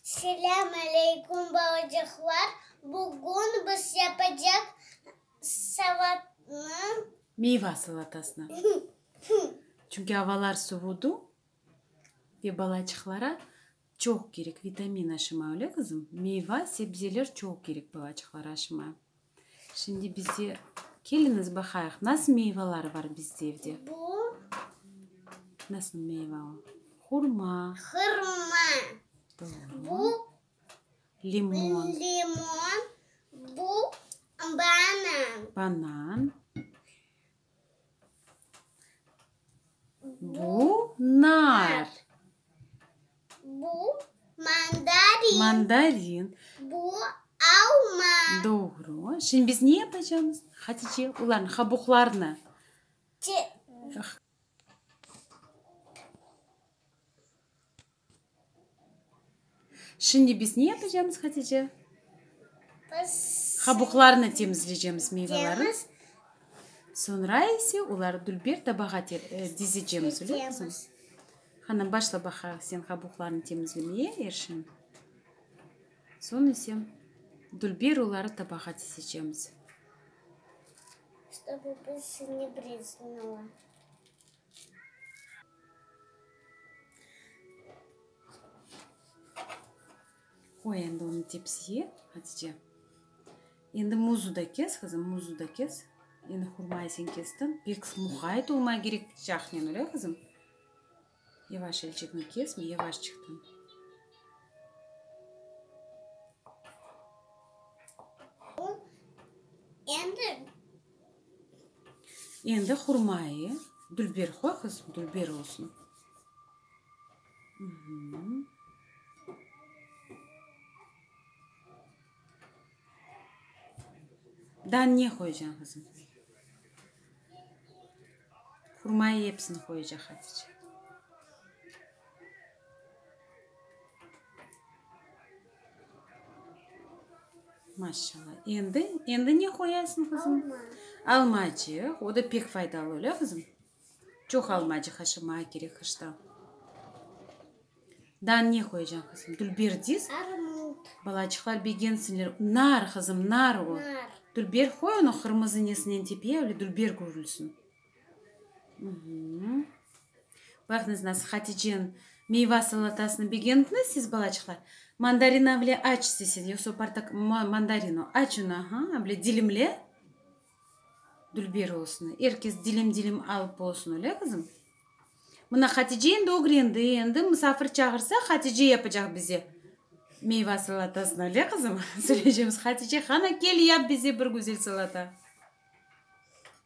Selâm aleykum balacıqlar, bugün biz yapacaq salatnı. Meyva salatasını. Çünki avalar suvudu ve balacıqlara Çoq kerek vitamin aşıma, öyle qızım? Meyva, sebzeler çoq kerek balaçıqlar aşıma. Şimdi bizde, keliñiz baqayıq, nasıl meyvalar bar bizde evde? Bu. Nasıl meyva o? Hurma. Hırma. Doğru. Bu. Limon. Limon. Bu. Banan. Banan. Bu, nar. Bu, mandarin. Mandarin. Bu, alma. Doğru. Şimdi biz ne yapacağımız? Hatice, olarnı, qabuqlarnı. Çıqaracağız. Şimdi biz ne yapacamız, Hatice? Qabuqlarını temizleycemiz meyvelerin. Soñra ise oları dülber tabağa dizecemiz, öyle mi? Qani, başla baqa sen qabuqlarını temizlemeye, Erşen. Soñ ise dülber oları tabağa dizecemiz. Qoy endi onı tepsiye, Hatice. Endi muzu da kes, qızım, muzu da kes. Endi hurmayı sen kestiñ. Pek muqayt olma kerek cahnen, öyle, qızım? Yavaş elçekni kesme, yavaş çıqtın. Endi Endi hurmayı dülber qoy qızım, dülber olsun. Daa ne qoyacañ qızım? Hurmayı episini qoyacaq Hatice. Maşşalla. Endi, endi ne qoyasıñ, qızım? Alma. Almacıq, o da pek faydalı, öyle, qızım? Çoq almacıq aşırmağa kerek qışta. Daa ne qoyacañ, qızım? Dülber deyiz? Armut. Balacıqlar begensinler. Nar, qızım, nar o. Nar. Dülber qoy, onı qırmızı nesinen tepe, öyle dülber körülsin. Baqıñız nasıl Haticenin meyva salatasını begendiñiz siz balaçıqlar. Mandarin avle aç istesez yoqsa portakal mandarin o aç uni aha avle dilimle dülber olsun er kes dilim dilim alıp olsun öyle qızım? Mına Hatice endi ögrendi endi musafir çağırsa Hatice yapacaq bize meyva salatasını öyle qızım? Söyleycemiz Hatice hana kel yap bize bir güzel salata.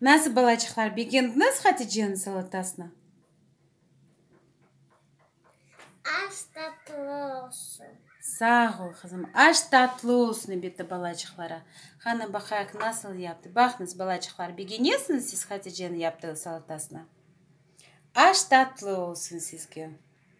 Nasıl balaçıqlar begendiñiz Haticeniñ salatasını? Aş tatlı olsun. Sağ ol, qızım. Aş tatlı olsun ebitti balaçıqlara. Qanı baqayıq nasıl yaptı. Baqnız balaçıqlar begenesiñiz siz Haticeniñ yaptığı salatasını? Aş tatlı olsun sizge.